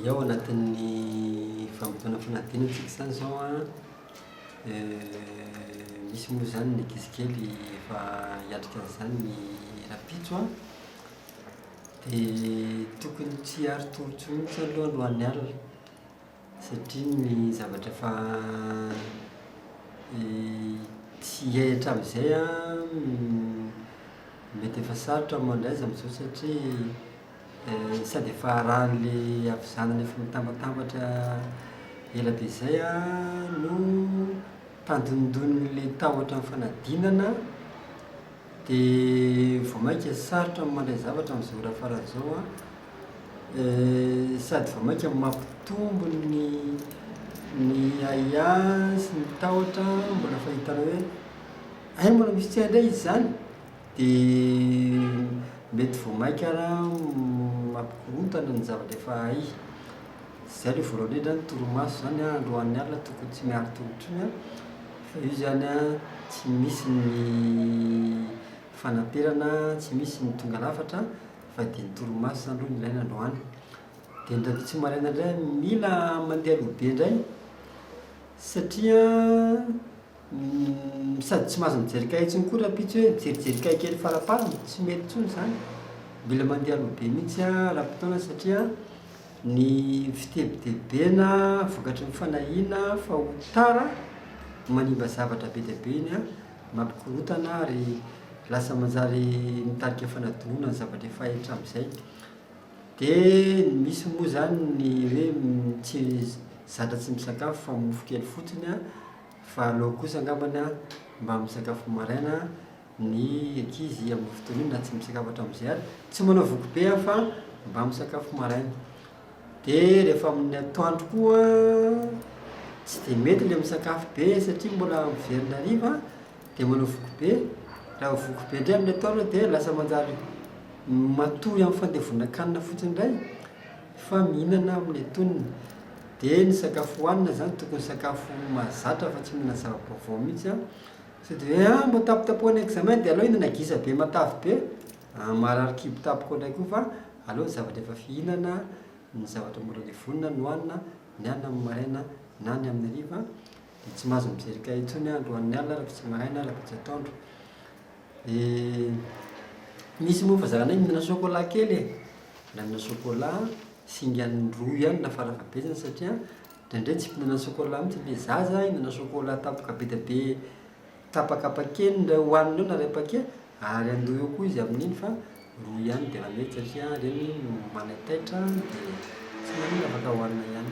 Ny ao anatin'ny vanim-potoana fanadinana isika izany izao an, misy moa izany ny ankizy kely efa hiatrika an'izany ny rahampitso an, dia tokony tsy harin-tolotro mihitsy aloha ny ho an'ny alina satria ny zavatra efa tsy hay hatramin'izay an, mety efa sarotra ny mandray azy amin'izao satria Sady efa arahan'le havizanana efa mitambatambatra ela be zay no tandindonin'le tahotra ny fanadinana de vao maika sarotra ny mandray zavatra amzao raha faran'ny zao an, sady vao maika mampitombo ny ny ahiahy an sy ny tahotra an, mbola fahitanao hoe hay mbola misy tsy hay ndray izy zany? Dia mety vao mainka ary an mampikorontana ny zavatra efa hay. Izay aloha voalohany indrindra ny torimaso izany an androany alina tokony tsy miala an-tongotr'io an, fa io izany an tsy misy ny fanaperana, tsy misy ny tonga lafatra fa dia ny torimaso izany aloha no ilaina androany. Dia ny radio tsy maraina indray an mila mandeha aloha be indray satria an Umm sady tsy mahazo mijery kahie intsony koa rahampitso e, mijerijery kahie kely faraparany, tsy mety intsony izany, mila mandeha aloha be mihintsy ara-potoana satria ny fitebitebena vokatry ny fanahiana fa ho tara manimba zavatra be dia be iny an, mampikorontana ary lasa manjary mitarika fanadinoana ny zavatra efa hay hatramin'izay, dia ny misy moa izany ny hoe tsy zatra tsy misakafo fa mofo kely fotsiny an Valo eo kosa angambany mba misakafo maraina ny ankizy amin'ny fotoana iny na tsy misakafo hatramin'izay ary tsy manao voky be aho fa mba misakafo maraina. Dia rehefa amin'ny atoandro koa tsy dia mety ilay misakafo be satria mbola miverina hariva dia manao voky be. Raha voky be indray amin'ny atoandro dia lasa manjary matory amin'ny fandevonan-kanina fotsiny indray. Fa mihinana amin'ny antonony. Dia ny sakafo hohanina izany tokony sakafo mahazatra fa tsy mihinana zava-baovao mihitsy an! Sao dia hoe an! mba tapotapohan'ny examen dia aleo hihinana gisa be matavy be an! maharary kibo tapoko indray koa fa aleo ny zavatra efa fihinana, ny zavatra mbola levonina no hohanina, ny hanina amin'ny maraina na ny amin'ny hariva. dia tsy mahazo mijery kahie intsony aho androan'ny alina ary vitsy maraina ary vitsy atoandro dia misy moa fa zaranay mihinana chocolat kely e, mbola mihinana chocolat, singa indroa ihany na farafahabetsany satria indraindray tsy mpihinana chocolat mihitsy ilay zaza, mihinana chocolat tapaka be dia be tapaka paquet ny iray hohaniny eo na iray paquet ary andoha eo koa izy amin'iny fa roa ihany dia efa mety satria ireny no manaitaitra dia tsy maninona afaka hohanina ihany